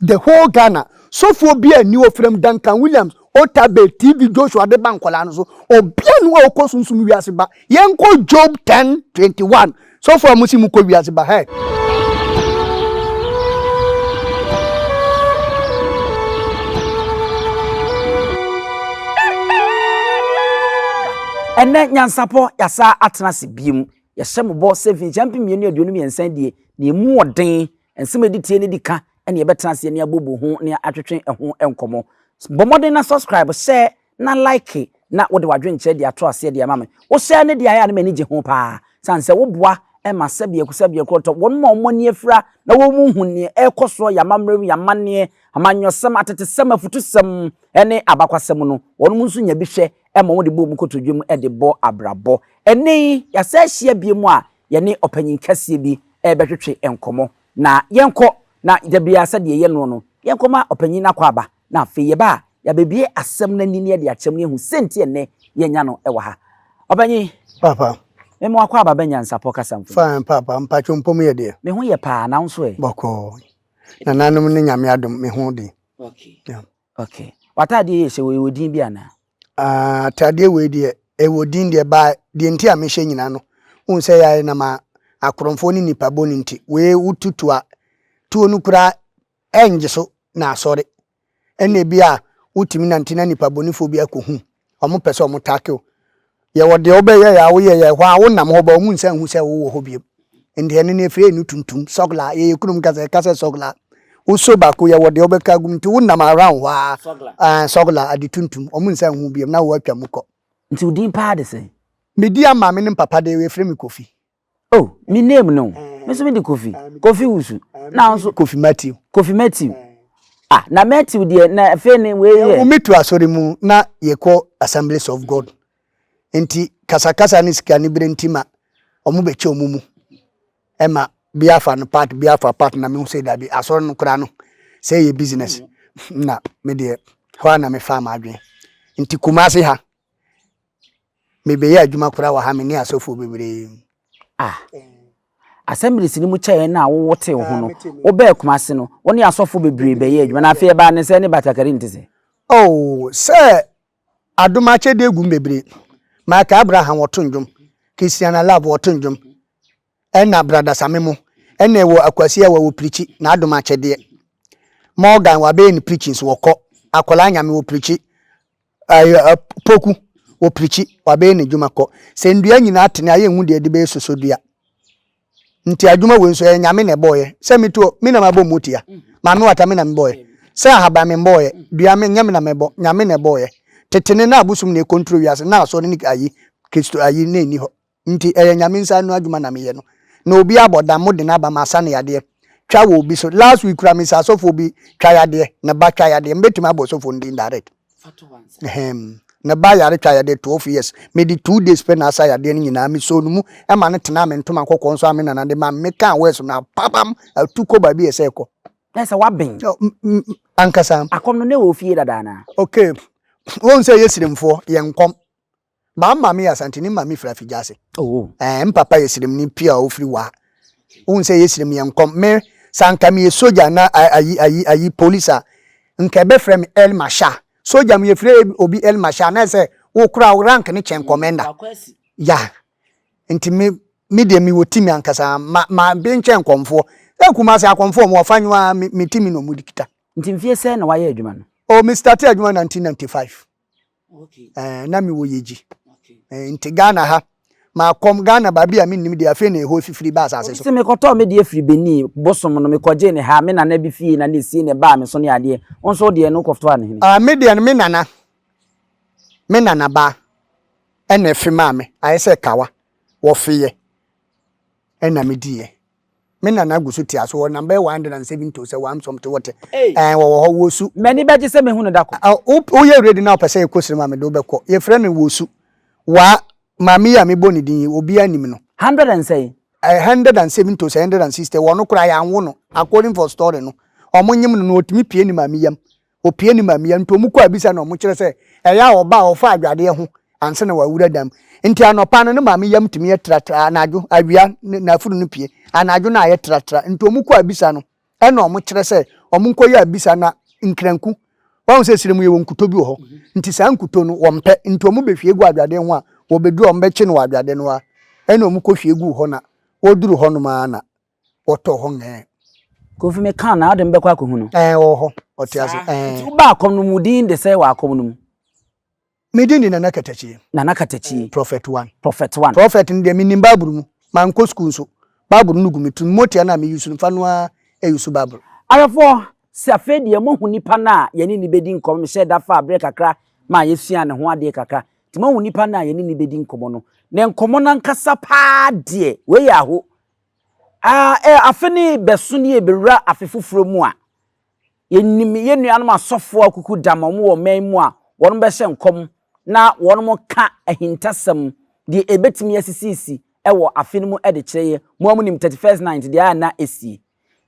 The whole Ghana sɔfoɔ biaa nni hɔ frɛm Duncan Williams, Otta Bay, TV Joshua de ba nkwadaa no so ɔbia ni hɔ a ɔkɔ sunsum wiase ba yɛnkɔ Job ten twenty one sɔfoɔ a mosi mokɔ wiase ba hɛɛ. Ɛnnɛ nyansapɔ yɛasa atena ase biom. Yɛhyɛ mo bɔ sɛ mfirinhyia mpem mmienu aduonu mmiɛnsa adie na ɛmu ɔden Nsɛm a ɛdi tie no di ka ne yɛbɛtena ase ne abobɔ ho ne atwetwe ho nkɔmmɔ. Bɔ mmɔden na subscribe, share, na like na wode w'adwenkyerɛ de ato aseɛ de ama me. Wo share no deɛ ayɛ a ne m'ani gye ho paa sane sɛ woboa ma sɛbiako sɛbiako ɔtɔ wɔn ma wɔn ani afira na wɔn mu hu neɛ ɛrekɔ soɔ yɛ amammerɛ mu, yɛ amanneɛ, amanyɔsɛm, atetesɛm, afutusɛm ne abakwasɛm no wɔn nso nya bi hwɛ ma wɔn de bɔ wɔn kotodwe mu de bɔ abrabɔ. Ɛnɛ yi yɛasɛ ahyia bio mu a yɛne ɔpanyin kɛseɛ bi rebɛtwetwe nkɔmmɔ, na yɛnkɔ, na da biara sɛdeɛ yɛyɛ noɔ no, yɛnkɔma ɔpanyin no akwaaba, na afei yɛba a, yɛabɛbue asɛm no ani na yɛde akyerɛ mu na yɛahu sɛ nti a nnɛ yɛanya no wɔ ha. Ɔpanyin. Paapa. Me mo akwaaba bɛ nyansapɔ kasa mfoni. Fine, paapa. Mpacho mpɔ mu yɛ deɛ? Me ho yɛ paa, na wo nso ɛ? Bɔkɔɔ. Nananom ne Nyame adom, me ho de. Okay. Yeah. Ok w'ataadeɛ yi a ɛhyɛ wei wɔ din bi anaa? Ah ataadeɛ wei deɛ ɛwɔ din deɛ ba deɛ nti a mehyɛ nyinaa no wohu sɛ yɛayɛ nam a akorɔmfoɔ ne nipa bɔ no nti wei wotutu a tuo no koraa ɛngye so na asɔre ɛna ebi a wotumi nante na nipa bɔnifoɔ bi akɔhu Ɔmo pɛ sɛ ɔmo take wo. Yɛwɔ deɛ wobɛyɛ yɛ a woyɛ yɛ hɔ a wonam hɔ ba ɔmo nsa nhu sɛ wowɔ hɔ biom nti ɛno no yɛfrɛ no tuntum sɔglaa yɛyɛ kurom kasa yɛka sɛ sɔglaa wo so baako yɛwɔ deɛ wobɛka agum nti wonam around hɔ aa ɛɛ sɔglaa ade tuntum ɔmo nsa nhu biom na woatwa mu kɔ. Nti wo din paa de sɛn? Me din a maame ne me papa de yɛ yɛfrɛ me Kofi. Oh me name no me nso me de Kofi Kofi Wusu na nso Kofi Matthew Kofi Matthew ah na Matthew deɛ na afei ne wei yɛ. Yɛwumi to asɔre mu na yɛkɔ Assemblies of God nti kasakasa ne sika ne bere nti ma wɔn bɛkyɛ wɔn mu ɛma bi afa no part bi afa part na mehu sɛ dabi asɔre no koraa no sɛ yɛ business na me deɛ hɔ a na mefa m'adwene nti Kumasi ha Mebɛyɛ adwuma koraa wɔ ha, me ne asɔfoɔ bebree. Ah. Assemblies no mu kyɛɛ no a wo wo tee ho no, wo bɛɛ Kumasi no, wo ne asɔfoɔ bebree bɛyɛɛ adwuma, na afei ɛbaa ne sɛɛ ne Batakari nte sɛ? Oh, sɛ adom akyɛdeɛ agu mu bebree. Michael Abraham wɔto ndwom, Christiana Love wɔto ndwom, ɛna Brada Samemo, ɛna ɛwɔ Akwasi Awɛ wɔ pirikyi, na adom akyɛdeɛ. Morgan wabɛyɛ ne pirikyi nso wɔkɔ, Akwadaa Nyame wɔ pirikyi, Ay ɛ poku, wɔpirikyi, wɔabɛyɛ n'adwuma kɔ. Sɛ nnua nyinaa tene a, yɛnhu deɛ yɛde bɛyɛ soso dua. Nti adwuma wei nso, ɛyɛ Nyame na ɛbɔɔyɛ. Sɛ me tuo, me na mabɔ mu tia. Maame wata, me na mebɔɔyɛ. Sɛ ahaban, memmɔɔyɛ. Dua, me, ɛnyɛ me na mɛbɔ, Nyame na ɛbɔɔyɛ. Tetene ne abosom na ɛkɔntro wiase, na asɔre ne ayi, Kristo ayi, na ɛnni hɔ. Nti ɛyɛ Nyame nsa ano adwuma na meyɛ no na obi abɔ dam mo de no aba ma asa no yadeɛ twa wɔ obi so last week kura mese asɔfoɔ bi twa yadeɛ ne ba twa yadeɛ mebɛtumi abɔ ɔsɔfoɔ no din direct ɛhɛm ne ba yare twa yadeɛ 12 years mede 2 days pɛ na asa yadeɛ no nyinaa mesoo no mu ɛma no tenaa me ntoma kɔkɔɔ nso a me nana de ma me mekaa wɛs no apabam atu kɔ baabi ɛsɛ ɛkɔ na sɛ waben ankasa akɔm no na ɛwɔ fie dada anaa okay wɔn sɛ yɛ sirimfoɔ yɛn nkɔm Maa maame yɛ Asanteni maame firi Afigyase. Oh. Ɛɛ, me papa yɛ Siremni pure a ɔfiri Waa. Wohu sɛ ɛyɛ Sirem yɛ nkɔm. Me, sɛ anka meyɛ sogya anaa a, ayi, ayi, ayi, polis a, nka ɛbɛfrɛ me El Marshal. Sogya mu, yɛfrɛ obi El Marshal a, na ɛyɛ sɛ wo koraa wo rank no kyɛn Commander. Ya. Nti me, me deɛ mewɔ timi ankasa. Ma, ma be nkyɛ nkɔmfoɔ. Sɛ Kumasi akɔmfoɔ, wɔn afa nwo ara, me, me timi na wɔde kita. Nti mfeɛ sɛn na woayɛ adwuma no? Oh, me startee adwuma 1995. Ɛɛ, na mewɔ Yegyi. Ɛɛ, nti Ghana ha. Makɔm Ghana baabi a mennim deɛ afei na ɛhɔ afifiri ba asase so. Obi se mekɔtɔɔ me deɛ firi Benin, bosom no mekɔgyee no ha, me nana bi fie na na ɛsie na ɛbaa me so ne adeɛ. Wo nso wo deɛ no wokɔtɔɔ no he? Ɛɛ, me deɛ no me nana, me nana baa ɛna ɛfe maa me. Ayɛ sɛ kawa, wɔfeeɛ ɛna mediiɛ. Me nana gu so te ase wɔ number 170 o sɛ wam sɔm te wɔte. Ɛn wɔwɔ hɔ wɔsu. M'ani bɛgye sɛ mehu no da koro. Woyɛ ready na wopɛ sɛ yɛkɔ sram a mede wo bɛkɔ. Yɛfrɛ no wɔsu. Waa, maame yi a mebɔ ne din yi, obiara nim no. Hundred and sɛn? Ɛɛ 170 o sɛ 160, wɔ no koraa yɛanwo no. According for story no, wɔnyem no no ɔtumi pue ne maame yam Opue ne mmamia nto mu kɔ abisa na wɔkyerɛ sɛ ɛyɛ a ɔba a ɔfa adwadeɛ ho ansa na wawura dam. Nti anɔpa no ne maame yam tumi yɛ tratra, anadwo, awia, ne n'afuru no pue. Anadwo no ayɛ tratra, nti wɔkɔ abisa no ɛna wɔkyerɛ sɛ wɔnkɔyɛ abisa na nkranku, wahu sɛ serɛ mu yɛwɔ nkuto bi wɔ hɔ, nti saa nkuto no wɔmpɛ, nti wɔbɛhwie gu adwadeɛ ho a wɔbɛduru a wɔbɛkye no wɔ adwadeɛ no hɔ ara ɛna wɔkɔhwie gu hɔ na wɔduru hɔnom ara na wɔtɔ hɔ ngɛɛ. Kofi me kaa naade mebɛkɔ akɔhu no. Ɛɛ ɔwɔ hɔ ɔte ase ɛɛ. Nti wobaa akɔm no mu wo din de sɛ wɔ akɔm no mu. Me din de Nana Katakyie. Nana Katakyie. Prɔfɛt one. Prɔfɛt one. Prɔfɛt no deɛ me nim bible mu mankɔ sukuu nso bible no gu me tirim motia no a me use no fa no ara ɛ use bible. Ahwɛfoɔ, sɛ afei deɛ moahu nipa no a yɛne no bɛdi nkɔmmɔ no, mehyɛɛ da faa berɛ kakra maa yɛsuaa ne ho adeɛ kakra, nti moahu nipa no a yɛne no bɛdi nkɔmmɔ no, ne nkɔmmɔ no ankasa paa deɛ, wei yɛ aho, Aa eh, afe no rebɛso na yɛrebɛwura afe foforɔ mu a, yɛnim yɛn nuanom asɔfoɔ a kuku da ma wɔn wɔ ɔman mu a wɔbɛhyɛ nkɔm na wɔka ahintasɛm deɛ ɛbɛtumi asisiisi wɔ afe no mu de kyerɛ yɛn. Moa monim 31st Night deɛ a na ɛsie.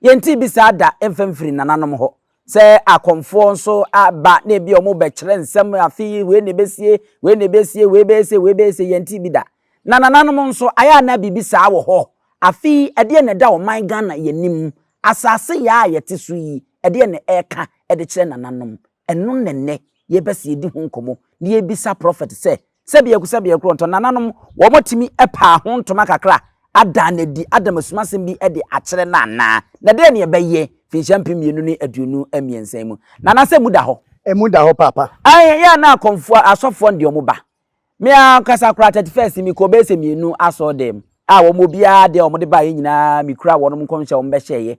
Yɛntee bi saa da mfa mfiri nananom hɔ. Sɛ akɔmfoɔ nso ba na ebi a wɔbɛkyerɛ nsɛm afe yi wei na ebesie, wei na ebesie, wei bɛyɛ sei, wei bɛyɛ sei, yɛntee bi da. Na nananom nso, ayɛ a na biribi saa wɔ hɔ. Afe yi, ɛdeɛn na ɛda ɔman Ghana yɛn anim? Asase yea a yɛte so yi, ɛdeɛn na ɛreka de kyerɛ nananom? Ɛno na ɛnnɛ yɛreba sɛ yɛdi ho nkɔmmɔ na yɛbisa prɔfɛt sɛ, Sɛ biako sɛ biako ntɔ nananom wɔn tumi paa ho ntoma kakra adaa no adi ada masum asɛm bi de akyerɛ no anaa? Na dɛn ne ɛbɛyɛ finhyia mpem mmienu ne aduonu mmiɛnsa yi mu? Nana sɛ emu da hɔ? Emu da hɔ paapa. Ae ɛyɛ a na akɔmfoɔ asɔfoɔ no deɛ wɔn ba. Me ankasa koraa thirty first me kɔɔ bɛyɛ sɛ mmienu asɔɔdɛɛ mu a wɔn obiara deɛ wɔn de baeɛ nyinaa me kura wɔn nkɔmhyɛ a wɔn bɛhyɛeɛ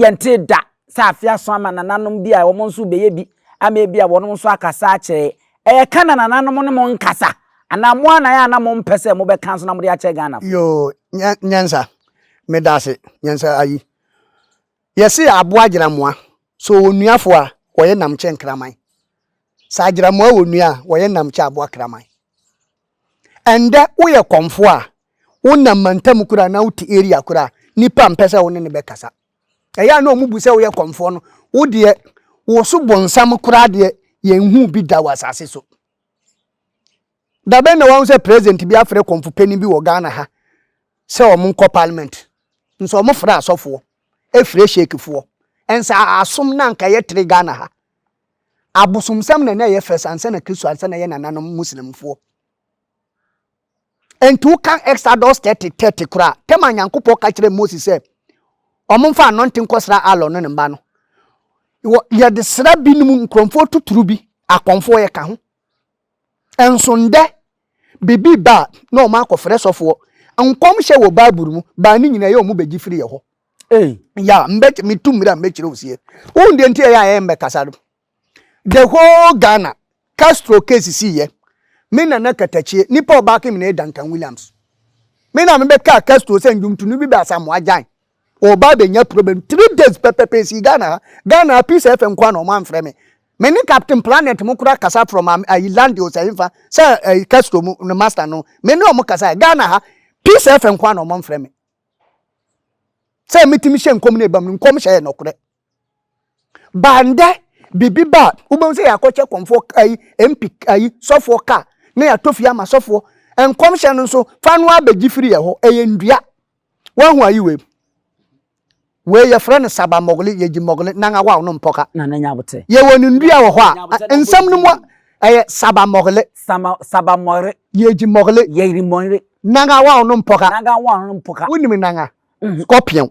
Yɛntee da sɛ afe ason ama nananom bi a wɔn nso rebɛyɛ bi ama ebia wɔnom nso akasa akyerɛ. Ɛyɛ ka na nananom ne mo nkasa? Anaa mo ara na ayɛ a na mompɛ sɛ mobɛka nso na mode akyɛ Ghanafo? Yoo, Nyansa. Medaase, Nyansa ayi. Yɛse aboa agyeramoa, sɛ ɔwɔ nuafo a, ɔyɛ nam kyɛ nkraman. Sɛ agyeramoa wɔ nua a, ɔyɛ nam kyɛ aboa kraman. Ɛndɛ woyɛ kɔmfoɔ a, wonam mantam koro anaa wote area koro a, nnipa mpɛ sɛ wo ne no bɛkasa. Ɛyɛ a na wɔn bu sɛ woyɛ kɔmfoɔ no, wo deɛ wo so bonsam koraa deɛ yɛnhuu bi da wɔ asase so. Da bɛn na wahu sɛ president bi afrɛ kɔmfopanin bi wɔ Ghana ha sɛ wɔn nkɔ parliament? Nso wɔfrɛ asɔfoɔ, ɛfrɛ sheikfoɔ. Ɛnsa asom na anka ɛyɛ tere Ghana ha. Abosomsɛm na na ɛyɛ first ansa na Kristo ansa na ɛyɛ nananom Muslimfoɔ. Ɛnti woka Exodus 30 30 koraa, tɛm a Nyankopɔn ka kyerɛ Moses sɛ ɔmo mfa anɔnte nkɔsra Aaron ne ne mma no, yɛde sra binom nkurɔfoɔ toturu bi, akɔmfoɔ yɛka ho, Nso ndɛ, biribi ba a, na wɔn akɔfrɛ sɔfoɔ. Nkɔmhyɛ wɔ Bible mu baa ne nyinaa yɛ wɔn bɛgye firi yɛ hɔ. Ei. Ya, mbɛky me tu mmira mbɛkyerɛ wo sie. Wohu deɛ nti a ɛyɛ a yɛn mbɛkasa no? The whole Ghana, Castro case sii yɛ. Me Nana Katakyie, nnipa a ɔbaako me na yɛ Duncan Williams. Me na mebɛkaa Castro sɛ ndwomtoni bi bɛ Asamoah Gyan. Ɔba abɛnya problem three days pɛpɛpɛ ɛsii Ghana ha Ghana ha peace FM nkoa na ɔmo amfrɛ me me ne captain planet mo kora kasa from am ayi landios ɛhefa sɛ ayi Castro mu no master no me ne ɔmo kasa Ghana ha peace FM nkoa na ɔmo amfrɛ me sɛ metumi hyɛ nkɔm ne ɛbam no nkɔm hyɛ yɛ nɔkorɛ. Baa ndɛ biribi ba a wobɛhu sɛ yɛakɔkyɛ kɔmfoɔ ayi MP ayi sɔfoɔ kaa na yɛatɔ fie ama sɔfoɔ. Nkɔmhyɛ no nso fa no ara bɛgye firi yɛn hɔ. Ɛyɛ nnua. Woahu ayi wei? Wei yɛfrɛ no saba mogli, yɛgye mogli nan awaw no mpɔka. Na ne nya bote. Yɛwɔ ne nnua wɔ hɔ a nsɛm no mu a ɛyɛ saba mogli. Sama saba mogli. Yɛgye mogli. Yɛgye mogli. Nan awaw no mpɔka. Nan awaw no mpɔka. Wonim nan a? Scorpion.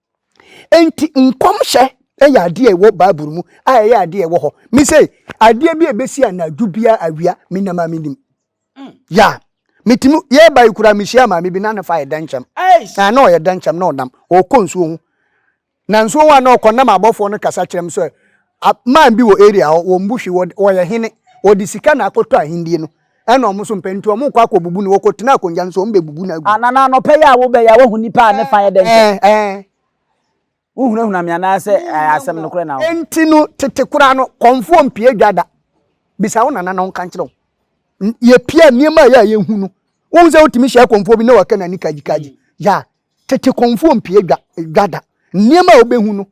Enti nkɔmhyɛ yɛ adeɛ a ɛwɔ Bible mu a ɛyɛ adeɛ a ɛwɔ hɔ. Me sɛ adeɛ bi a ɛbɛsi anadwo bi a awia me nam a menim. Mm. Ya. Metumi yɛba yi koraa mehyia maame bi na ne fa yɛ dɛnkyɛm. Na na ɔyɛ dɛnkyɛm na ɔnam. Ɔkɔ nsuo ho. Na nsuo ho a na ɔkɔ nam abɔfoɔ no kasa kyerɛ m sɛ man bi wɔ area hɔ wɔn bu hwe wɔyɛ hene wɔde sika na akɔtɔ ahendie no. Ɛna wɔn nso mpɛ, enti wɔkɔ akɔbubu no, wɔkɔtena akonnwa no so, wɔbɛbubu no agu. Anaa anɔpa yi a wobɛyɛ a woahu nnipa a ne fa yɛ dɛ ntɛm? Wohunahuna me anaasɛ asɛm nokorɛ na wo? Enti no, tete koraa no, kɔmfoɔ mpia dwa da. Bisa wo nana na ɔnka nkyerɛ wo. Yɛpia a, nneɛma a ɛyɛ a yɛhu no, wohu sɛ wotumi hyia kɔmfoɔ bi na waka n'ani kagyikagyi? Yeah. Tete kɔmfoɔ mpia dwa da. Nneɛma a wobɛhu no,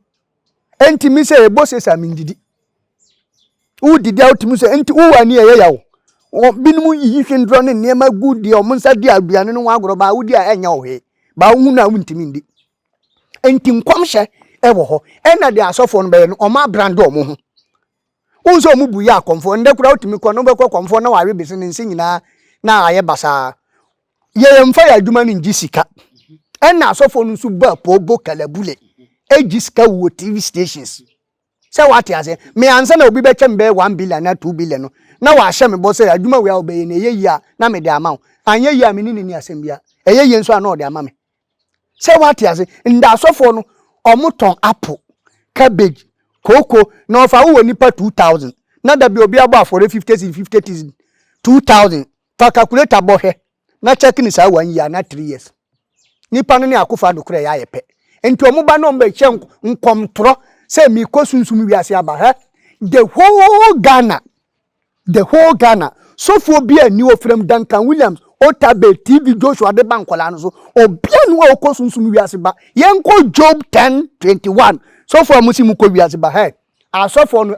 Enti me sɛ yɛbɔ sesa a mendidi. Wodidi a wotumi sɛ enti wo ani ɛyɛ yaw. Binom yiyi hwendrɔ ne nneɛma gu di a wɔn nsa di aduane no ho agorɔ baa wodi a ɛnyɛ wo hwee. Baa wohu no a wontumi ndi. Enti nkɔmhyɛ ɛwɔ hɔ. Ɛna deɛ asɔfoɔ no bɛyɛ no wɔn abrande wɔn ho. Wohu sɛ wɔn bu yɛ akɔmfoɔ. Nnɛ koraa wotumi kɔ no, wobɛkɔ kɔmfoɔ na wawe bese ne nse nyinaa na ayɛ basaa. Yɛmfa yɛn adwuma no ngye sika. Ɛna asɔfoɔ no nso bɔ apoo, bɔ kalabule, gye sika wɔ TV stations. Sɛ woate aseɛ? Me ansa na obi bɛkyɛ me bɛyɛ one billion anaa two billion no, na wahyɛ me bɔ sɛ adwuma wei a wobɛyɛ no ɛyɛ yie a na mede ama wo. Anyɛ yie a me ne no nni asɛm biara. Ɛyɛ yie nso a na ɔde ama me. sɛ wate ase ndaasɔfoɔ no ɔmo tɔn apple cabbage kooko na ɔfa wowɔ nipa two thousand na dabi obi abɔ afɔre fifty cedi fifty cedi two thousand fa calculator bɔ hwɛ na check ne saa one year na three years nipa no ne akofo ado korɛ yɛ ayɛ pɛ nti ɔmo ba na ɔmo bɛ hyɛ nkɔmtorɔ sɛ mekɔ sunsum wiase aba hɛ the whole Ghana. The whole Ghana sɔfoɔ biaa nni hɔ frɛm Duncan Williams, Otabil, TV Joshua de ba nkwadaa no so obiaa nni hɔ a ɔkɔ sunsum wiase ba yɛnkɔ Job ten twenty one sɔfoɔ a mosi mokɔ wiase ba hɛ asɔfoɔ no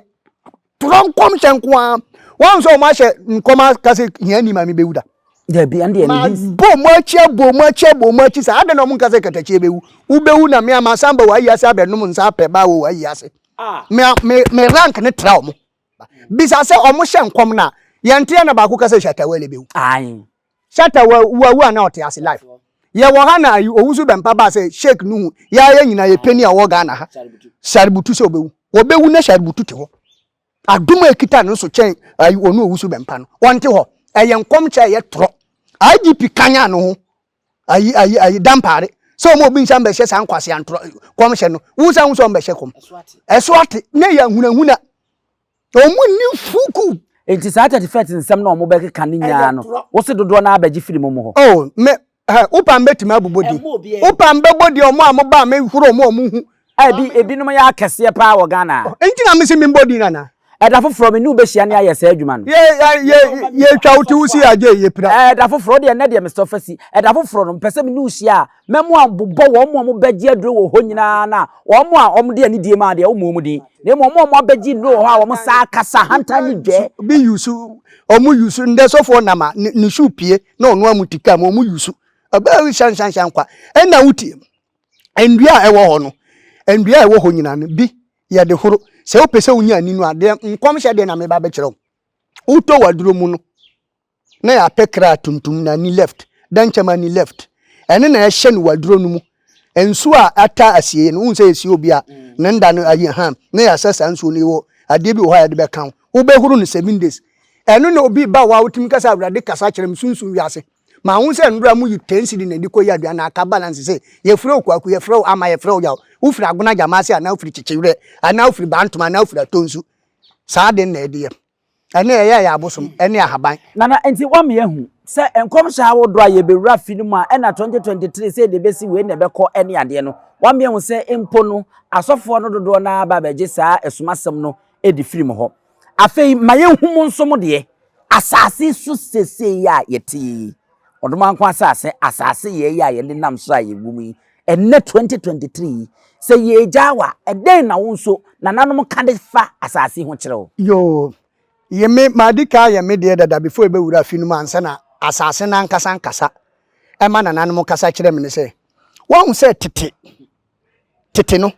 torɔ nkɔmhyɛ nko ara wɔn sɛ wɔn ahyɛ nkɔm aka sɛ hia ni maame bɛwu da dabi ɛn deɛ ma bɔ mo akyi abɔ mo akyi abɔ mo akyi saa adɛn na wɔn nka sɛ katakyie bɛwu wobɛwu na me a masan ba wɔ ayi ase abɛnom nsa apɛ ba wɔ wɔ ayi ase me me me rank ne tra wɔn bisa sɛ ɔmo hyɛ nkɔm na yɛnte yɛ na baako ka sɛ Shatta Wale bɛwu. Aye. Shatta wa wa wu ana ɔte ase life. Yɛwɔ ha na ayi owusu bɛmpa baa sɛ Sheikh Nuhu yɛa yɛ nyina yɛ pɛni a ɔwɔ Ghana ha Shaributu sɛ ɔbɛwu. Ɔbɛwu na Shaributu te hɔ. Adom a ɛkita no so kyɛn ayi ɔno owusu bɛmpa no. Ɔnte hɔ. Ɛyɛ nkɔmhyɛ a ɛyɛ torɔ. IGP kanyan ne ho ayi ayi ayi dampaare sɛ ɔmo obi nsa mbɛhyɛ saa nkwasi antorɔ kɔmhyɛ no wo nsa ho sɛ ɔmbɛhyɛ kɔm ɛso ate na ɛyɛ ahunahuna ɔmo ni fuku. nti saa church fɛt nsɛm na ɔmo bɛkeka ne nyinaa no wose dodoɔ naa bɛgye firi mo mo hɔ. oh me ha wopam bɛtumi abobɔ din wopam bɛbɔ din ɔmo a mo ba me horo ɔmo ɔmo hu A ebi ebinom yɛ akɛseɛ paa wɔ Ghana a. Enti na mese memmɔ din anaa? Ɛda foforɔ me ne wo bɛhyia ne ayɛ saa adwuma no. Yɛ yɛ yɛ yɛtwa wo ti wo si agye yɛ pira. Ɛda foforɔ wo deɛ nnɛ deɛ mesɔ fa si. Ɛda foforɔ no mepɛ sɛ me ne wo hyia a mɛmo a bobɔ wɔn a wɔbɛgye aduro wɔ hɔ nyinaa na wɔn a wɔde anidie ma deɛ wommɔ wɔn din na mmom wɔn a wɔabɛgye nnuro wɔ hɔ a wɔn saa kasa ahantan ne dwɛ. Bi yusu wɔn yusu ndɛ sɔfoɔ nam a ne ne shoe pie na ɔnoa mu ti kaa mu wɔn yusu ɔbaa yi hyɛnhyɛnhyɛn kwa ɛna wo tie mu. Ndua a ɛwɔ hɔ no, ndua a ɛwɔ hɔ nyina no, bi yɛ de horo. Sɛ wopɛ sɛ wonya ani no a, deɛ nkɔmhyɛ deɛ na meba bɛkyerɛ wo. Wotɔ w'aduro mu no, na yɛapɛ kra tuntum na ani left, dɛnkyɛm ani left. Ɛno na ɛhyɛ no w'aduro no mu. Nsuo a ata asieɛ no, wohu sɛ yɛsie obi a, ne nda no ayi ha, na yɛasa saa nsuo no yi wɔ adeɛ bi wɔ hɔ a yɛde bɛka wo. Wobɛhoro no seven days. Ɛno na obi ba hɔ a, wotumi ka sɛ, Awurade kasa kyerɛ me, sunsum wiase. Mahu sɛ nnora mu yi ten cedi na ɛde kɔyi aduan na aka balance sɛ, Yɛfrɛ wo Kwaku, yɛfrɛ wo Ama, yɛfrɛ wo Yaw. Wofiri Agona Gyamase anaa wofiri Kyekyewerɛ anaa wofiri Bantoma anaa wofiri Atonsu. Saa ade no na ɛde yɛ. Ɛno na ɛyɛ yɛn abosom ne ahaban. Nana, nti woama yɛahu sɛ nkɔmhyɛ ahodoɔ a yɛbɛwura fi no mu a ɛna 2023 sɛ yɛde bɛsi wei na ɛbɛkɔ ne adeɛ no, woama yɛahu sɛ mpo no asɔfoɔ no dodoɔ no ara ba bɛgye saa asumasɛm no di firi mo hɔ. Afei ma yɛnhu mo nso mo deɛ, asase so seesei yi a yɛte yi, ɔdomankwa asase, asase yɛɛ yi a yɛde nam so a yɛwɔ mu yi, ɛnnɛ 2023 yi, sɛ yɛregyaa wo a, ɛdɛn na wo nso nananom ka de fa asase ho kyerɛ wo? Yoo, ye me, madi kan ayɛ me deɛ dada before yɛbɛwura afi no mu ansa na asase no ankasa ankasa. Ɛma nananom kasa kyerɛ me ne sɛ, Woahu sɛ tete Tete no,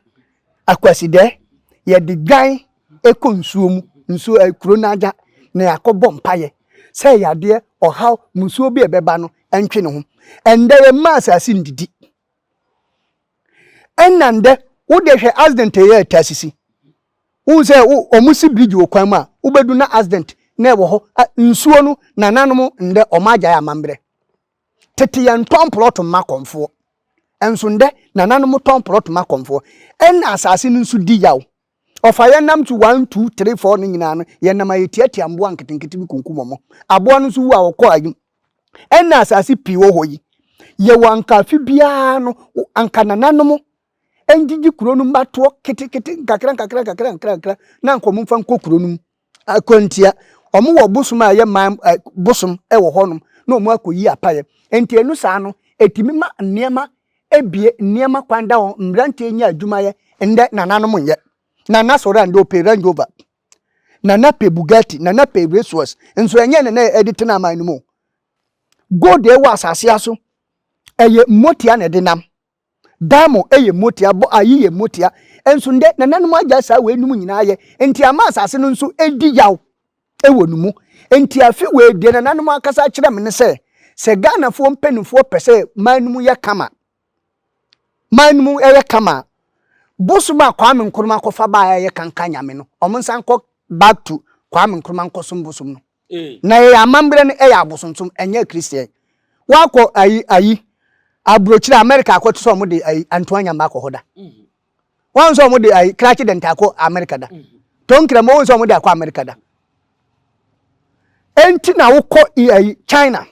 Akwasidɛ, yɛde dwan kɔ nsuo mu, nsuo ɛ, kuro no agya na yɛakɔbɔ mpaeɛ sɛ yadeɛ, ɔhaw, mmusuo bi a ɛbɛba no ntwe ne ho. Ɛndɛ yɛmma asase ndidi. Ɛna ndɛ, wodeɛ hwɛ accident a ɛyɛ ɛtaa sisi. Wohu sɛ wo, wɔn si bridge wɔ kwan mu a, wobɛdu na accident na ɛwɔ hɔ. Ɛ, nsuo no, nananom ndɛ wɔn agyae amammerɛ. Tete yɛntɔn plɔt mma akɔmfoɔ, nso ndɛ nananom tɔn plɔt ma akɔmfoɔ, ɛna asase no nso di yaw. Ɔfa yɛn nam tu one, two, three, four no nyinaa no, yɛn nam a yɛtiatia mboa nketenkete bi kunkum wɔn. Aboa no nso wu a ɔkɔ ayim. Ɛna asase pii wɔ hɔ yi, yɛwɔ anka afe biara no, anka nananom ngyegye kuro no mma toɔ ketekete, nkakra nkakra nkakra nkakra na anka wɔn mfa nkɔ kuro no mu. Akwantia. Ɔmo wɔ bosom a ɛyɛ man ɛ bosom ɛwɔ hɔ nom na ɔmo akɔ yi apaeɛ. Nti ɛno saa no ɛtumi ma nneɛma ɛbie, nneɛma kwan da hɔ, mmranteɛ nya adwuma yɛ. Ndɛ nana nom nyɛ. Nana sɔre a ndɛ ɔpɛ Range Rover, nana pɛ Bugatti, nana pɛ Racewors. Nso ɛnyɛ nana na ɛde tena aman no mu o. Gold a ɛwɔ asaseɛ aso ɛyɛ motia na ɛde nam. Daa mo yɛ motia, bɔ ayi yɛ motia. Nso ndɛ nananom agyae saa weinom nyinaa yɛ, nti ama asase no nso redi yaw wɔ no mu. Nti afe wei deɛ nananom akasa akyerɛ me ne sɛ, sɛ Ghanafoɔ mpaninfoɔ pɛ sɛ man no mu yɛ kama, man no mu yɛ kama a, bosom a Kwame Nkrumah kɔfa baeɛ a ɛyɛ kanka nyame no, wɔn nsa nkɔ back to Kwame Nkrumah nkɔsom bosom no. Na yɛyɛ amammerɛ no yɛ abosonsom ɛnyɛ akristian wakɔ ayi ayi aburokyire America akɔ te sɛ ɔmo de ayi antoa nyama akɔ hɔ da wɔn sɛ ɔmo de ayi krakye dɛnta akɔ America da tonkira mo wɔn sɛ ɔmo de akɔ America da enti na wokɔ ayi China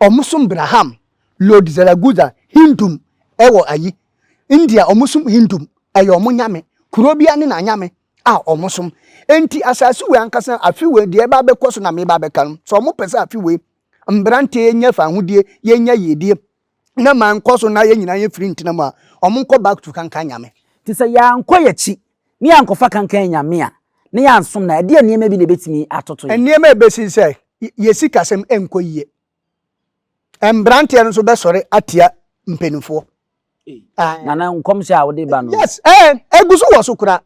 ɔmo som Braham Lord Zaragoza Hindum ɛwɔ ayi India ɔmo som Hindum ɛyɛ ɔmo nyame kuro bia ne na nyame a wɔsom. Enti asase wei ankasa afe wei deɛ ɛba abɛkɔ so na meba abɛka no. Sɛ wɔpɛ sɛ afe wei mmeranteɛ nya fahodie, yɛnya yiedie, na ma nkɔ so na yɛn nyinaa yɛfiri ntena mu a, wɔnkɔ back to kankan nyame. Nti sɛ yɛankɔ yɛn akyi na yɛankɔfa kankan nyame a, na yɛansom no a, ɛdeɛn nneɛma bi na ɛbɛtumi atoto yɛn? Nneɛma a ɛbɛsi ne sɛ, yɛn sikasɛm renkɔ yie. Mberanteɛ no nso bɛsɔre atia mpanimfoɔ. Nana nkɔmhyɛ a wode ba no. Yes, ɛɛ eh, egu so wɔ so kura.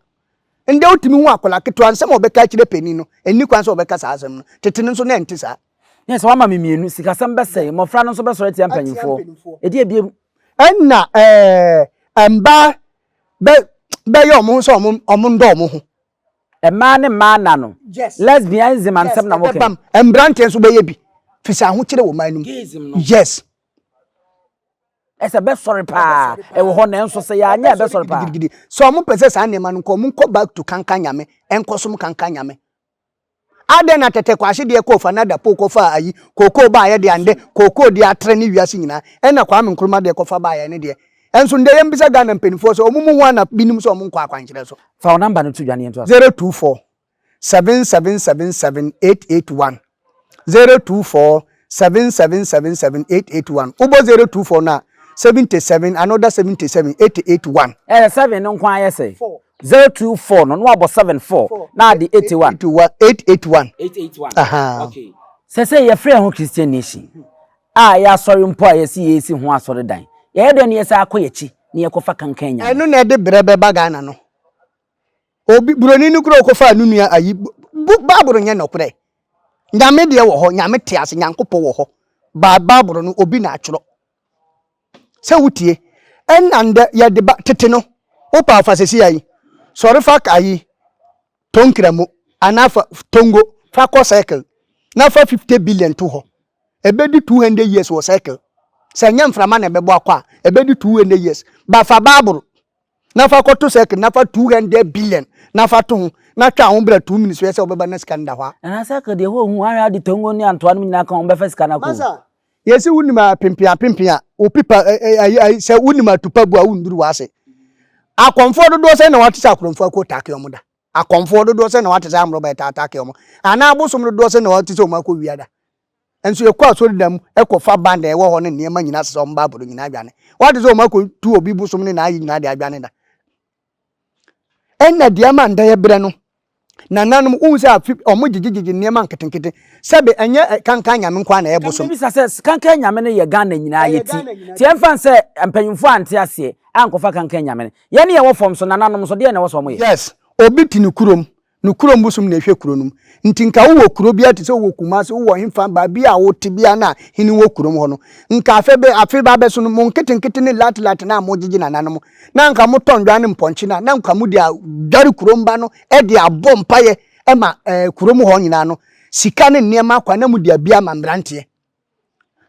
Ndɛ wotumi hu akwadaa ketewa nsɛm a ɔbɛka akyerɛ panyin no, ɛnni kwan sɛ ɔbɛka saa asɛm no. Tete no nso na ɛnte saa. Yes, wama me mmienu, sikasɛm bɛsɛe, mmɔfra no nso bɛsɔre atia mpanyinfoɔ. Ɛdi ebiem. Ɛnna ɛɛ eh, mbaa bɛ bɛyɛ wɔn ho sɛ wɔn wɔn ndɔ wɔn ho. Mmaa ne mmaa nna no, lesbianism ansɛm na moka yi. Mmranteɛ nso bɛyɛ bi, firi sɛ ahokyere wɔ ɔman no mu. Yes. Ɛsɛ bɛsɔre paa ɛwɔ hɔ nanso sɛ yɛanyɛ a bɛsɔre paa. Sɛ wɔn pɛ sɛ saa nneɛma no nkɔ, wɔn nkɔ back to kanka nyame, ɛnkɔ som kanka nyame. Adɛn na tɛtɛ kwashe deɛ kɔɔ fa na dapo kɔ faa ayi kookoo baayɛ deɛ a ndɛ kookoo deɛ atrɛ ne wiase nyinaa ɛna kwame nkrumah deɛ kɔ fa baayɛ ɛno deɛ nso ndɛ yɛn bisa Ghana mpaninfoɔ sɛ ɔmo mu hwan na bi nim sɛ ɔmo nkɔ akwankyerɛ so. Fa wo number no to dwa ne yɛntoa so. Zero two four, seven seven seven seven, eight eight one, zero two four, seven seven seven seven, eight eight one, wo bɔ zero two four no a, seventy seven, another seventy seven, eighty eight one. Ɛyɛ seven no nko ara yɛ sɛn? Four. Zero two four no no abɔ seven four na ade eighty one. Eight one eight eight one. Eight eight one. Ahaa. Okay. Sɛ sɛ yɛfrɛ yɛn ho Christian nation a ɛyɛ asɔre mpo a yɛsi yɛresi ho asɔredan yɛyɛ dɛn na yɛsan akɔ yɛn akyi na yɛkɔfa kankan anyame. Ɛno na ɛde brɛ bɛba Ghana no. Obi buroni no kura ɔkɔfa no nua ayi Bible nyɛ nɔkorɛ. Nyame deɛ wɔ hɔ, nyame te ase, nyankopɔ wɔ hɔ. Ba Bible no obi na atwerɛ. sɛ wotie. Ɛnna ndɛ yɛde ba tete no, wopɛ a fa sesia yi. Sɔre fa ka yi tɔ nkramo anaa fa tongo fa kɔ circle na fa fifty billion to hɔ. Ɛbɛdi two hundred years wɔ circle. Sɛ ɛnyɛ mframa na ɛbɛbɔ akɔ a, ɛbɛdi two hundred years. Ba fa Bible na fa kɔto circle na fa two hundred billion na fa to ho na twɛn aho bra two minutes hwɛ sɛ ɔbɛba na sika no da hɔ a. Nana circle deɛ hɔ hu ahwɛ ade tongo ne antoa nom nyinaa ka ho ɔmo bɛfa sika no akɔ o. Yɛse wonim apempen apempen a opipa ayi sɛ wonim atupa bu a wonduru w'ase akɔmfoɔ dodoɔ sɛn na wate sɛ akorɔmfoɔ akɔ taake ɔmo da akɔmfoɔ dodoɔ sɛn na wate sɛ amrɔba ɛtaataake ɔmo anaa abosom dodoɔ sɛn na wate sɛ ɔmo akɔ wia da Nso yɛkɔ asɔredan mu kɔfa band a ɛwɔ hɔ ne nneɛma nyinaa sesa wɔn Bible no nyinaa dwane. Wɔate sɛ wɔn akɔtu obi bosom ne n'ayi nyinaa de adwane da. Ɛna deɛ ma nda yɛ berɛ no, nananom wohu sɛ afe wɔn gyegyegyegye nneɛma nketenkete sɛbe ɛnyɛ kankan nyame nko ara na ɛyɛ bosom. Bisa sɛ kankan nyame no yɛ Ghana nyinaa yɛ ti ti ɛmfa nsɛ mpanyinfoɔ ante aseɛ ankɔfa kankan nyame no yɛne yɛwɔ fam so nananom nso deɛ na ɛwɔ sɛ wɔn yɛ. Yes obi te ne kurom No kurom bosom na ɛhwɛ kuro no mu. Nti nka wowɔ kuro biara te sɛ wowɔ Kumasi, wowɔ hefa, baabi a wote biara no a hene wɔ kurom hɔ no, nka afe bɛ, afe ba bɛso no, mo nketenkete ne latlat no a mogyegye nananom, na nka motɔ nnwan ne mpɔnkye no a, na nka mode adware kurom ba no de abɔ mpaeɛ ma ɛɛ kurom hɔ nyinaa no, sika ne nneɛma akwa na mode abi ama mmeranteɛ.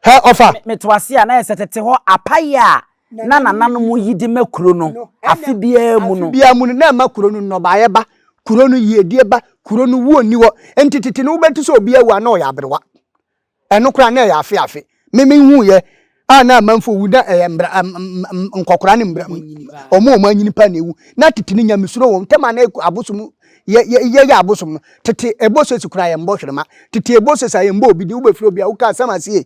Hɛ ɔfa. Me to ase a na yɛ sɛ tete hɔ apaye a na nananom yi de ma kuro no afe biara mu no. Afe biara mu no na ɛma kuro no nnɔbaeɛ ba, kuro no yiedie ba, kuro no wuo nni hɔ. Nti tete no wobɛte sɛ obi awu a na ɔyɛ aberewa. Ɛno koraa na ɛyɛ afe afe. Me mehuuiɛ a na amanfoɔ wu na ɛyɛ mbra, nkɔkora ne mbra, wɔn a wɔn anyini paa na ɛwu. Na tete no nyamesuro wɔ wɔn ntam a na ɛkɔ abosom yɛ yɛ yɛyɛ abosom no tete ɛbɔ sesi koraa yɛn bɔ hwerema tete ɛbɔ sesi a yɛn bɔ obi di wobɛfiri obi a woka asɛm asie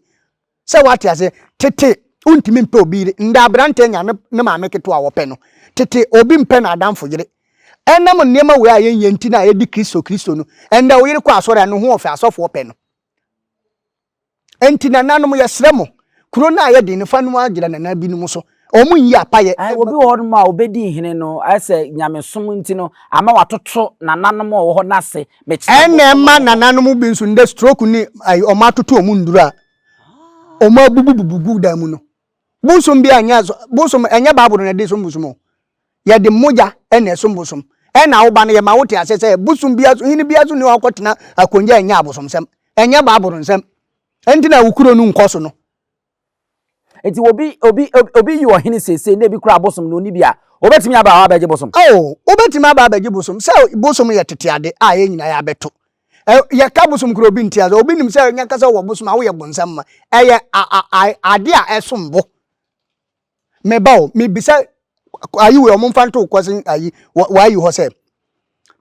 sɛ wate aseɛ tete wontumi mpɛ obi yere nda aberanteɛ nya ne ne maame ketewa a wɔpɛ no tete obi mpɛ na adamfo yere ɛnam nneɛma wei a yɛnyɛ nti na yɛdi kristo kristo no ɛnda wo yere kɔ asɔre a no ho ɔfɛ asɔfoɔ pɛ no Enti nananom yɛsrɛ mo, kuro no ayɛ den no fa no agyina nana binom so, wɔn nyi apayɛ. Ae obi wɔ hɔnom a ɔbɛdi hene no, ayɛ sɛ nyamesom nti no ama watoto nananom a wɔwɔ hɔ no ase, mekyerɛ mo. Ɛna ɛma nananom bi nso nnɛ stroke ne ae wɔn atoto wɔn nnuro a wɔabubububu gu dan mu no, Bosom bi a ɛnyɛ so bosom ɛnyɛ Bible na ɛde som bosom o. Yɛde mogya na ɛsom bosom. Ɛna woba no yɛma wote ase sɛ bosom bia so hene bia so ni hɔ a ɔkɔtena akonnwa a ɛnyɛ abosomsɛm. Ɛnyɛ Bible nsɛm. Ɛnti na wo kuro no nkɔ so no. Nti obi obi obi yɛ ɔhene seesei na ebi kura abosom na oni bi a, obetumi aba hɔ abɛgye bosom? Oh, obetumi aba abɛgye bosom. Sɛ bosom yɛ tete ade a yɛn nyinaa yɛabɛto. yɛka bosom kura obi nti obi nim sɛ nya kasa wɔ bosom a woyɛ bonsam ma ɛyɛ ade a ɛsom bo meba o mebisa ayi wɔ ɔmo mfa nto kɔ sen ayi wɔayi hɔ sɛ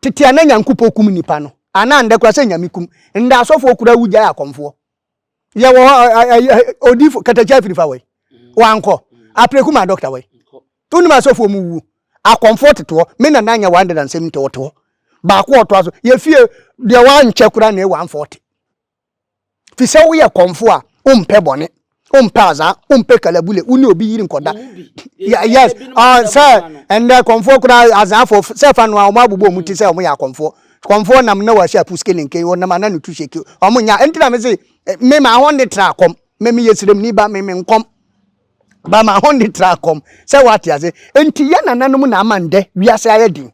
tete a na nyankopɔ kum nipa no anaa ndɛ kura sɛ nyame kum ndɛ asɔfoɔ kura wugyae akɔmfoɔ yɛ wɔ hɔ odifo katakya afiri fa wɔ wankɔ apreku ma dɔkta wɔ wonim asɔfoɔ mu wuo akɔmfoɔ tetoɔ me nana nyɛ wɔn de na nsɛm nti ɔte hɔ baako ɔtoa so yɛfie deɛ wankyɛ kora na ɛwɔ amfɔ ɔte fi sɛ woyɛ kɔmfo a wompɛ bɔne wompɛ azaa wompɛ kalabule wo ne obi yiri nkɔda yes sɛ ɛndɛ kɔmfoɔ kora azaafoɔ sɛ fa no a wɔn abobɔ wɔn ti sɛ wɔn yɛ akɔmfoɔ Kɔmfoɔ nam na wɔahyɛ apuske ne nken, wɔnam ana no tu hyɛ kio. Wɔn nya, ɛnti na mese me ma ahɔnne tra kɔm, me meyɛ sremni ba, me me nkɔm ba ma ahɔnne tra kɔm, sɛ wate ase. Ɛnti yɛ nananom na ama ndɛ wiase ayɛ den.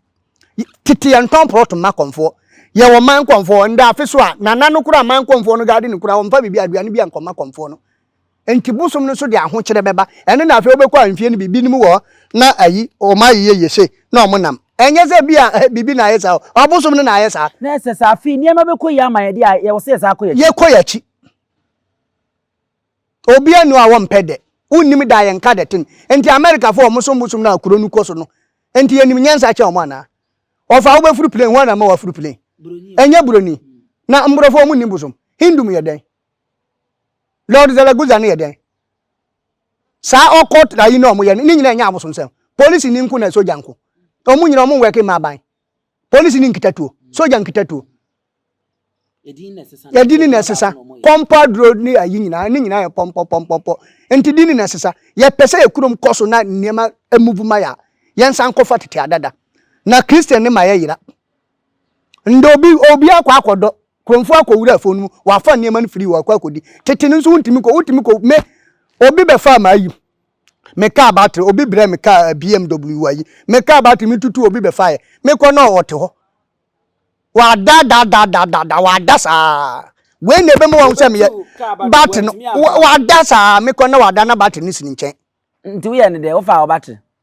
Tete yɛ ntɔn prɔt mma kɔmfoɔ, yɛ wɔ man kɔmfoɔ, ndɛ afe so a, nana no kora man kɔmfoɔ no gaadene kura, wɔmfa biribi aduane bi a nkɔma kɔmfoɔ no. Enti bosom no so de ahokyere bɛba. Ɛno na afei wobɛkɔ a mfie no bi, binom wɔ hɔ na ayi, wɔn ayɛ yiye se na wɔn nam. Ɛnyɛ sɛ ebia biribi na ayɛ saa o, ɔbosom no na ayɛ saa. Na ɛsɛ sɛ afei nneɛma bɛkɔ yie ama yɛn de a, yɛwɔ sɛ yɛsan akɔ yɛn akyi. Yɛkɔ yɛn akyi. Obiara nni hɔ a wɔmpɛ dɛ. Wonnim dɛ a yɛnka dɛ ten. Enti Amerikafo a wɔsom bosom no a kuro no kɔ so no, enti yɛnim nyansa kyɛn wɔn anaa? Wɔfa a wobɛforo plane, hwan na ama woaforo plane? Ɛnyɛ Buroni. Na Mmorɔfo, wɔnnim bosom. Hindu mu yɛ dɛn? Lord Zaragoza no yɛ dɛn? Saa ɔkɔt ayi na ɔmo yɛ no, ne nyinaa nyɛ abosonsɛm. Polisi ni nko na sogya nko. Ɔmo nyinaa ɔmo nwɛke ma aban. Polisi ni nkita tuo, sogya nkita tuo. Yɛdi ni na ɛsesa. Pɔmpɔ aduro ne ayi nyinaa, ne nyinaa yɛ pɔmpɔ pɔmpɔpɔ. Nti di ni na ɛsesa. Yɛpɛ sɛ yɛ kurom kɔ so na nneɛma emuvu ma yɛ a, yɛnsan nkɔfa tete adada. Na Christian ne ma yɛyera. Ndɛ obi obi akɔ akɔdɔ kuromfo akɔ wura fon mu wafa nneɛma no firi hɔ akɔ akɔdi tete no nso wontumi kɔ wotumi kɔ me obi bɛfaa m'ayi me kaa batere obi brɛ me kaa eh, bmw ayi me kaa batere me tutu obi bɛfaeɛ mekɔ na ɔte hɔ wada da da da da da wada saa wei na ebɛma wɔn sɛ meyɛ batere no wada saa mekɔ na wada na batere no si ne nkyɛn nti woyɛ ne dɛ wofa wo batere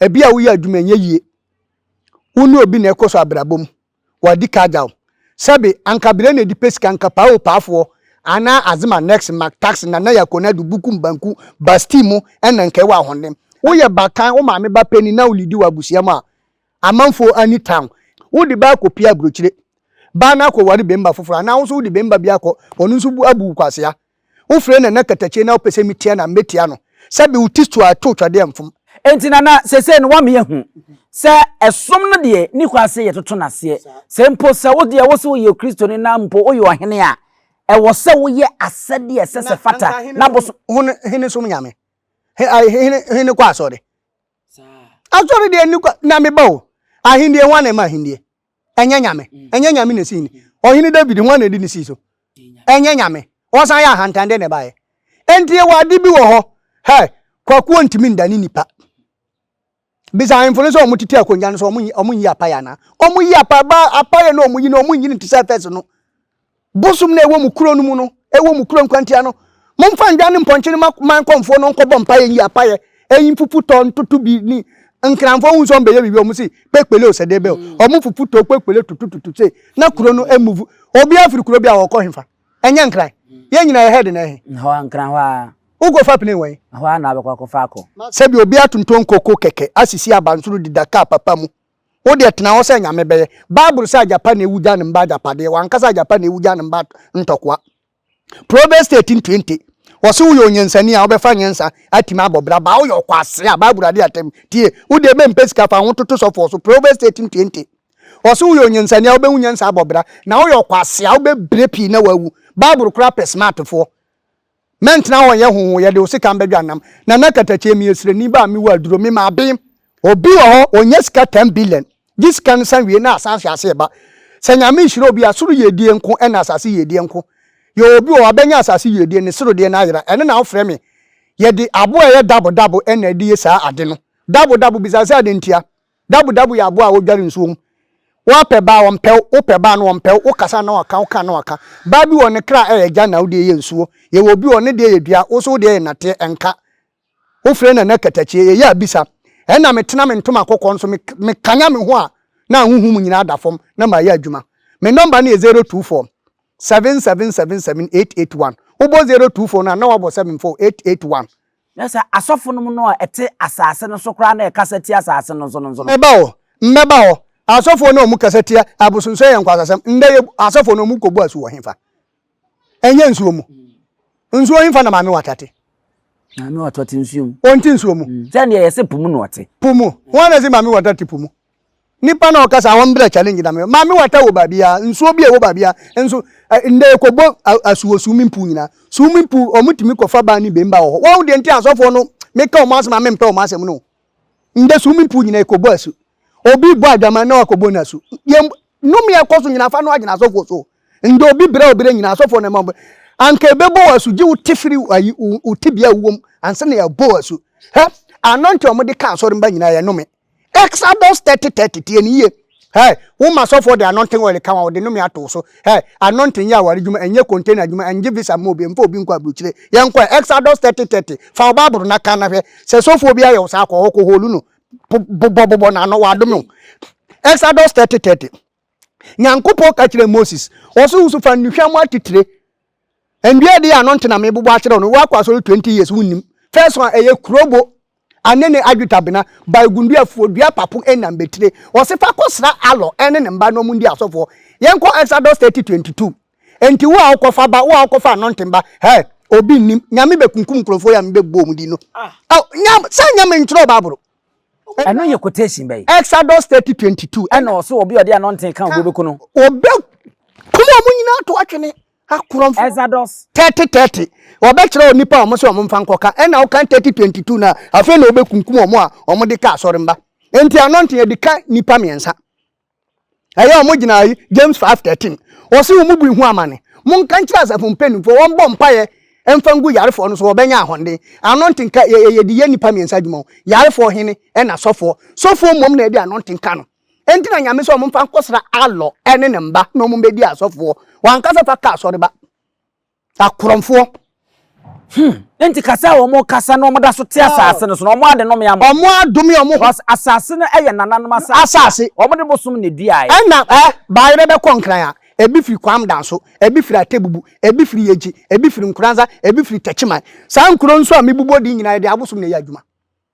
Ebia woyɛ adwuma nyɛ yie. Wo ne obi na ɛkɔ so abrabɔ mu. Wadi ka agya wo. Sɛbe anka bere na edi pɛ sika anka paa o paafoɔ anaa azema next mak taxi nana yɛ akonadu buku mbanku basti mu ɛna nka ɛwɔ ahoɔden. Woyɛ bakan wo maame ba panin na wo lidi wɔ abusua mu a amanfoɔ ani taw. Wo de ba akɔ pie abrokyire. Baa no akɔ ware bɛmma foforɔ anaa wo nso wo de bɛmma bi akɔ ɔno nso abu wo kwasea. Wofrɛ Nana Katakyie na wopɛ sɛ metia no a, mɛtia no. Sɛbe wo ti so a ɛto twa deɛ mfom. Enti Nana, seesei no woama yɛahu sɛ ɛsom no deɛ nni hɔ ase yɛtoto no aseɛ. Sɛ mpo sɛ wo deɛ wose woyɛ Kristoni na mpo woyɛ ɔhene a, ɛwɔ sɛ woyɛ asɛdeɛ a ɛsɛ sɛ ɛfata na bosom. Hene som Nyame? Hene kɔ asɔre? Asɔre deɛ nni kwa. Na meba o, ahennie, hwan na ɛma ahennie? ɛnyɛ nyame ɛnyɛ nyame na esii ni ɔhene david ho na edi ne sii so ɛnyɛ nyame ɔsan yɛ ahantan dɛ na ɛbaeɛ enti yɛwɔ ade bi wɔ hɔ hɛ kwakuo ntumi ndane nipa bisa ahemfo no sɛ ɔmo tete akonnwa no sɛ ɔmo nyi ɔmo nyi apaya na ɔmo yi apaya ba apaya na ɔmo yi na ɔmo nyi ne ti sɛ fɛs no Bosom no a ɛwɔ mo kuro no mu no, ɛwɔ mo kuro nkwantia no, momfa ndwan ne mpɔnkye no ma man kɔmfoɔ no nkɔbɔ mpaeɛ nyi apaeɛ, ɛyi mfufu tɔ ntoto bi ni nkranfoɔ hu sɛ ɔmbɛyɛ biribi ɔmo se kpekpele o sɛ dee bɛ o mm. ɔmo fufu tɔ kpekpele tutututu se na kuro no emuvu obiara firi kuro bi a ɔkɔ hefa ɛnyɛ nkran mm. yɛn nyinaa yɛ head na ɛhe hɔ nkran hɔ a wokɔ fa pene wɔn hɔ a na abɛkɔ akɔfa akɔ sɛbi obi atonton koko kɛkɛ asisi abansoro deda kaa papa mu Wo deɛ tena hɔ sɛ Nyame bɛyɛ. Bible sɛ agyapa na ewu gya ne mba agyapadeɛ, wankasa agyapa na ewu gya ne mba ntɔkwa. Proverbs thirteen twenty. Wɔse woyɛ onyansani a wobɛfa nyansa atumi abɔ bra baa woyɛ ɔkwasea a Bible ade atam. Tie, wo deɛ bɛmpɛ sika fa ho toto sɔfoɔ so Proverbs thirteen twenty. Wɔse woyɛ onyansani a wobɛhu nyansa abɔ bra na woyɛ ɔkwasea a wobɛbrɛ pii na wawu. Bible koraa pɛ smartfoɔ. Mɛntena hɔ nyɛ hoho, yɛde wo sekan bɛdwa nnam. Nana Katakyie, meyɛ srani ba a mewɔ aduro, me ma abem. Obi wɔ hɔ ɔnya sika ten billion, gye sika no san wie na asan ahwe ase reba. Sɛ Nyame hyira obi a, soro yiedie nko ɛna asase yiedie nko. Yɛwɔ obi wɔ hɔ wabɛnya asase yiedie, ne soro deɛ no ayera, ɛno na wofrɛ me. Yɛde aboa a ɛyɛ dabo dabo ɛna ɛde yɛ saa ade no. Dabo dabo, bisa sɛ adentia? Dabudabu yɛ aboa a wodware nsuo mu. Woapɛ baa a, ɔmpɛ wo, wopɛ baa no, ɔmpɛ wo, wokasa na waka, woka na waka. Baa bi wɔ hɔ, ne kra yɛ gya na wo deɛ yɛ nsuo. Yɛwɔ obi wɔ hɔ, ne deɛ yɛ dua, wo nso wo deɛ yɛ nnɛteɛ, ɛnka. Wofrɛ no ɛnɛ katakyie, yɛyɛ abisa. Ɛna metena me ntoma kɔkɔɔ no so, mekanya me ho a, na ahonhom nyinaa da fam, na mayɛ adwuma. Me nɔmba no yɛ zero two four, seven seven seven seven eight eight one. Wobɔ zero two four no a, na woabɔ seven four, eight eight one. Na sɛ asɔfonom no a ɛte asase no so koraa na ɛkasa tia asase no nso no nso no? Ɛba hɔ, mmɛba hɔ. Asɔfoɔ no a wɔkasa tia abosonsom yɛ nkwaseasɛm. Nnɛ yɛ asɔfoɔ no wɔkɔbu asu wɔ hefa? Ɛnyɛ nsuo mu. Nsuo hefa na maame wata te? Maame wata ɔte nsuo mu. Ɔnte nsuo mu. Sɛdeɛ yɛse po mu na ɔte. Po mu. Hwan na ɛse maame wata te po mu? Nipa na ɔkasa wɔn brɛ challenge na me maame wata wɔ baabi a nsuo bi a ɛwɔ baabi a nso ndɛ ɛkɔ bɔ asu wɔ swimming pool nyinaa swimming pool wɔn tumi kɔ fa baa ne bɛn ba wɔ hɔ wɔn deɛ nti asɔfoɔ no me ka wɔn asɛm a me mpɛ wɔn asɛm no ndɛ swimming pool nyinaa ɛkɔ bɔ asu obi bɔ adwaman na wakɔ bɔ n'asu yɛn nnome a ɛkɔ so nyinaa fa no agyina asɔfoɔ so ndɛ obi brɛ obrɛ nyinaa asɔfoɔ na ɛma wɔn anka ɛbɛ bɔ wɔ asu gye wo te firi ayi wo te bia wuwom ansa na yɛ bɔ wɔ asu hɛ anɔnte wɔn de ka asɔre mba nyinaa yɛ nnome. Exodus thirty thirty tie ne yie. Hey, wo ma sɔfoɔ de anointing oil ka wɔn wɔde nnome ato so. Hey, anointing yɛ aware adwuma ɛnyɛ container adwuma ɛngye visa mma obi mfa obi nkɔ aburukyire. Yɛnkɔ Exodus thirty thirty fa wo baabolo na ka na hwɛ sɛ sɔfoɔ bi ayɛ wo saa kɔ hɔ kɔ holu no bobɔ bobɔ n'ano wadome wo. Exodus thirty thirty. Nyankopɔn ka kyerɛɛ Moses, ɔse wo so fa nnuhwam atitire, ndua ɛdeɛ ano nte na mebobɔ akyerɛ no, woakɔ asɔre 20 years wonnim. First one ɛyɛ kurobo ane ne adwetabena, baegundua, fuo dua, papo ɛne nambetire. Ɔse fa kɔ sra Alɔ ɛne ne mba na ɔmo ndi asɔfoɔ. Yɛnkɔ Exodus 30, 22. Enti wo a wokɔ fa ba, wo a wokɔ fa anointing ba, hɛɛ, obi nnim, Nyame bɛkunkum nkurɔfoɔ yi a mebɛbobɔ ɔmo din no. Ah, Nyame, saa Nyame ntwerɛɛ Bible. Ɛno yɛ quotation bɛyɛ. Exodus thirty twenty two. Ɛna ɔso obi ɔde ano nten kan obi obeku no. Obe kum ɔmo nyinaa to atwene akorɔmfo. Exodus. Thirty thirty. Ɔbɛkyerɛ onipa a ɔmo sɛ ɔmo nfa nkɔka ɛna ɔkan thirty twenty two na afei na obekunkum ɔmo a ɔmo de ka asɔre mba. Enti ano nten ɛde ka nipa mmiɛnsa. Ɛyɛ a wɔgyina yi James 5:13. Wɔse wɔn mu bi ho amane. Monka nkyerɛ asafo mpanimfoɔ wɔmbɔ mpaeɛ mfa ngu yarefoɔ no so wɔbɛnya ahɔnden. Ano ntenka yɛ yɛ yɛde yɛ nnipa mmiɛnsa adwuma o. Yarefoɔ, hene ɛna sɔfoɔ. Sɔfoɔ mmom na ɛde ano ntenka no. Enti na Nyame se wɔmfa nkɔsra Alɔ ɛne ne mba na wɔn mbɛdi asɔfoɔ. Wankasa fa ka asɔreba. Akorɔmfoɔ. Hmm. Enti kasa a wɔn kasa na wɔn da so te asaase no so na wɔn ade nome ama. Wɔn adome wɔn ho. Because asaase no yɛ nananom asaase. Asaase. Wɔn de bosom na eduae. Ɛna ɛ baayerɛ bɛ kɔ nkran a, ebi firi Kwam Danso, ebi firi Atebubu, ebi firi Yegye, ebi firi Nkoranza, ebi firi Takyiman. Saa nkuro nso a mebubu ɔde nyinaa yɛde abosom na ɛyɛ adwuma.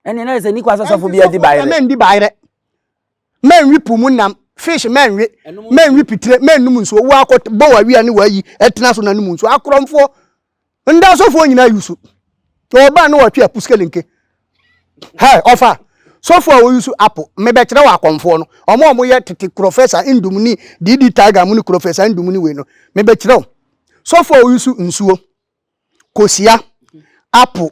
Ɛne na ɛsɛ nikwa sɛ sɔfo bi adi baayerɛ. Ɛnti sɔfo na ndi baayerɛ. Mɛnwe po mu nam, fish mɛnwe, mɛnwe pitire, mɛnum nsuo, wakɔ bɔ wawia ne wayi ɛtena so na num nsuo. Akorɔmfoɔ, ndasɔfoɔ nyinaa yusu. Ɔbaa ne wɔtwe apo sikelenke. Hɛ, ɔfa, sɔfoɔ a wɔyusu apo, mebɛkyerɛ wɔ akɔmfoɔ no, ɔmo a ɔmo yɛ tete kurɔfɛsa ndum ne DD Tiger mo ne kurɔfɛsa ndum ne wei no, mebɛkyerɛ wo. Sɔfoɔ a wɔyusu nsuo. kosua, apple,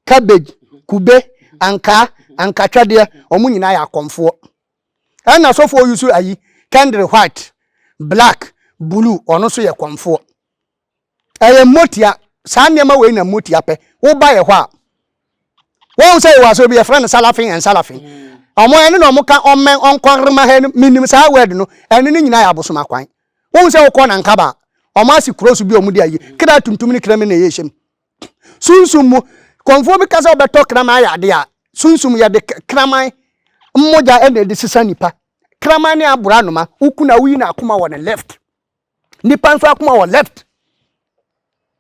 cabbage, kube, ankaa, ankatwadeɛ, wɔn nyinaa yɛ akɔmfoɔ. Ɛna sɔfoɔ yi so ayi, kɛndere white, black, blue, ɔno nso yɛ kɔmfoɔ. Ɛyɛ mmotia, saa nneɛma wei na mmotia pɛ. Woba yɛ hɔ a, Wɔn sɛ yɛwɔ asɔre bi yɛfrɛ no Salafin and Salafin. Wɔn mm. ɛne na wɔn ka ɔmɛn ɔnkɔrema hɛ no menim saa word no ɛne ne nyinaa yɛ abosom akwan. Wɔn sɛ wɔkɔ na nkaba wɔn ase kuro so bi wɔn de ayi mm. kra tuntum ne kra mi na ɛyɛ hyɛm. Sunsum mu kɔnfoɔ bi kasa ɔbɛtɔ kraman ayɛ ade a sunsum yɛde kraman mmogya ɛna ɛde sisa nipa. Kraman ne abora noma wokuna woyi na akoma wɔ ne left. Nnipa nso akoma wɔ left.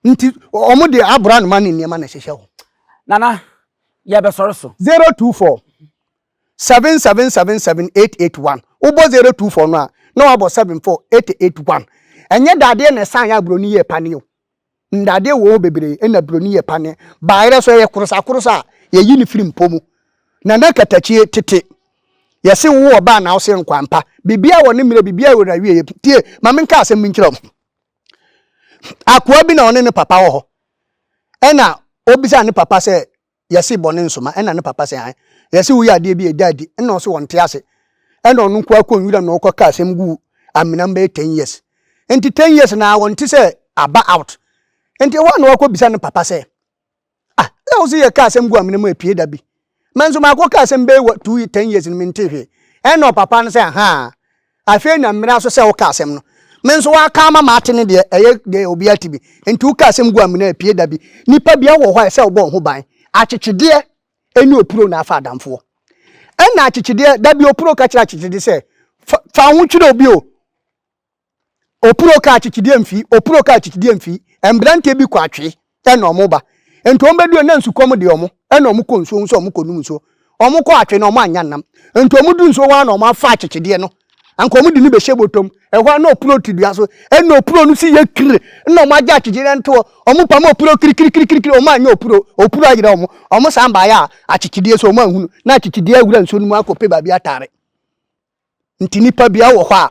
Nti wɔn de abora noma ne nneɛma na ɛhyehyɛ hɔ. Nana, yɛbɛsɔre so. 024 7777881 wobɔ 024 no a na wabɔ 74881 ɛnyɛ dadeɛ na ɛsan yɛ aburoni yɛ paneo Ndadeɛ wɔ hɔ bebree ɛna broni yɛ pa ne bayerɛ so ɛyɛ korosakorosa a yɛyi no firi mpɔ mu na na katakyie tete yɛse wo ɔbaa na wose nkwampa biribiara wɔ ne mmerɛ biribiara wɔ nawieɛ tie ma menka asɛm bi nkyerɛ wo akoa bi na ɔne ne papa wɔ hɔ ɛna ɔbisa ne papa sɛ Yɛse bɔne nsoma ɛna ne papa se hann Yɛse woyɛ adeɛ bi a ɛda adi ɛna ɔse ɔnte ase Ɛna ɔno nkoaa kɔ nwuram na ɔkɔ ka asɛm gu Amena mbɛyɛ ten years Nti ten years na ɔnte sɛ aba out Nti ɛhɔ a na wakɔ bisa ne papa sɛ Ah na wose yɛka asɛm gu Amena mu ɛpue da bi Mɛnso makɔ ka asɛm bɛyɛ wɔ two ten years no mentee hwee Ɛna ɔpapa no sɛ ahaa Afei na mmira nso sɛ woka asɛm no. Me nso woaka ama mate ne deɛ ɛyɛ deɛ obiara te bi. Enti woka asɛm gu amena apue da bi. Nnipa biara wɔ hɔ a ɛsɛ wobɔ wo ho ban. Akyekyedeɛ ɛne opuro na afa adamfoɔ. Ɛna akyekyedeɛ, da bi opuro ka kyerɛ akyekyedeɛ sɛ, Fa, fa wo ho twerɛ obi o. Opuro ka akyekyedeɛ mfii, opuro ka akyekyedeɛ mfii. Mberanteɛ bi kɔ atwee. ɛna ɔmo ba. Enti ɔmo bɛduru hɔ na nsukɔm de ɔmo, ɛna ɔmo kɔ nsuo ho sɛ ɔmo kɔ nom nsuo. Ɔmo kɔ atwe na ɔmo annya nam. Enti ɔmo duru nsuo hɔ ara na ɔmo afa akyekyedeɛ no, anka ɔmo de no bɛhyɛ bɔtɔ mu. Ɛhɔ ara na ɔpuno to dua so, ɛna ɔpuno no si yɛ kir, ɛna ɔmo agye akyekyedeɛ no to hɔ. Ɔmo pam ɔpuno kirikirikirikiri, ɔmo annya ɔpuno, ɔpuno ayera ɔmo. Ɔmo san baeɛ a akyekyedeɛ so ɔmo anhunu, na akyekyedeɛ awura nsuo no mu akɔ pɛ baabi atare. Nti nnipa bia wɔ hɔ a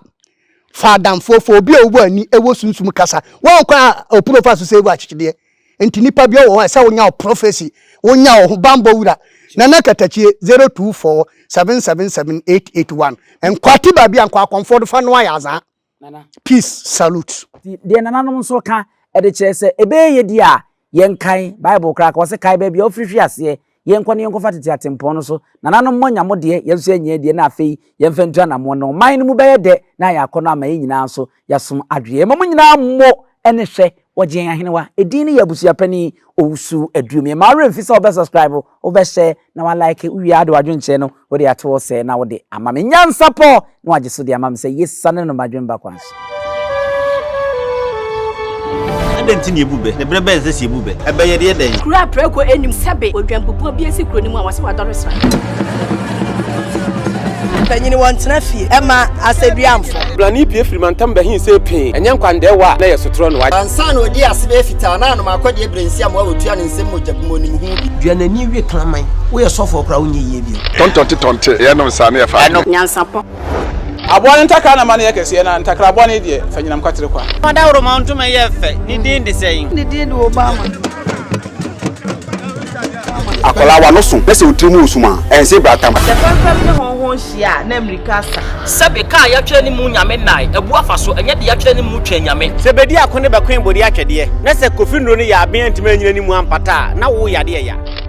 fa adamfoɔ fa obi a ɔwɔ ani wɔ sunsum kasa wɔn kwan a ɔpuro fa so sɛ ɛwɔ akyekyedeɛ nti nnipa bia wɔ hɔ a sɛ wonya wɔ prɔfɛsi wonya wɔ ho bambɔ wura nana katakyie 024 777 881 nkwate baabi a nkɔ akɔmfoɔ do fa no ayɛ azaa Nana. Peace salute. Ti deɛ nananom nso ka ɛde kyerɛ sɛ ɛbɛyɛ yɛ deɛ a yɛnkae Bible koraa ka ɔse kae baabi a wofiri hwe aseɛ yɛnkɔ ne yɛnkɔfa tete atempɔn no so nananom moanya mo deɛ yɛn nso yɛanya yɛn deɛ na afei yɛmfa ntu anammɔn na ɔman no mu bɛyɛ dɛ na ayɛ akɔnɔ ama yɛn nyinaa nso yɛasom adweɛ yɛma mo nyinaa mmo ɛne hwɛ wɔgye yɛn ahenewa ɛdin ne yɛ abusuapanin Owusu Aduom yɛn mma wo werɛ mfi sɛ wobɛ subscribe Wobɛhyɛ na woalike, wowie a de w'adwenkyerɛ no wode ato hɔ sɛɛ na wode ama me nyansapɔ na woagye so de ama me sɛ yesiane no m'adwene ba kwan so. Adɛn nti na yɛbu bɛ, na berɛ bɛn sɛ sɛ yɛbu bɛ a ɛbɛyɛ deɛ dɛn? Kuro a prɛko nnim sɛbe odwanpopɔn bi asi kuro no mu a wɔse wadɔre sra. Mpanyini wɔn tena fie ɛma asɛduamfo. Brani pie firi mantam bɛhin sɛ pee ɛnyɛ nkwandɛɛwa a na ɛyɛ sotorɔ no. Ansa na ɔdii ase bɛyɛ fitaa na anom akɔdeɛ berɛ nsi amoa ɔtua ne nsam mogya gu mu ɔnim ho bi. Dua n'ani we kraman. Woyɛ sɔfoɔ koraa wonyɛ yie bio. Tɔntɔnte tɔnte ɛyɛ nom saa ne ɛfa adwene. Nyansapɔ. Aboa no ntakra na ma no yɛ kɛseɛ na ntakraboa no deɛ fa nyinam kwatere kwa. Dawuroma ntoma yɛ fɛ, ne din de sɛn? Ne din de Obama. Akwadaa wa no so na sɛ otiri mu wɔ sum a, ɛnse bra tam. Sɛ fɛmfɛm ne hɔnhɔn hyia a, na mmirika asa. Sɛbe kaa yɛatwerɛ ne mu Nyame nnae, abu afa so, ɛnyɛ de yɛatwerɛ ne mu Twɛn Nyame. Sɛ bedi ako ne bɛkoe bode atwɛdeɛ, na sɛ Kofi Nnuro no yɛ aben antumi anyina ne mu ampata a, na wo yade ɛya.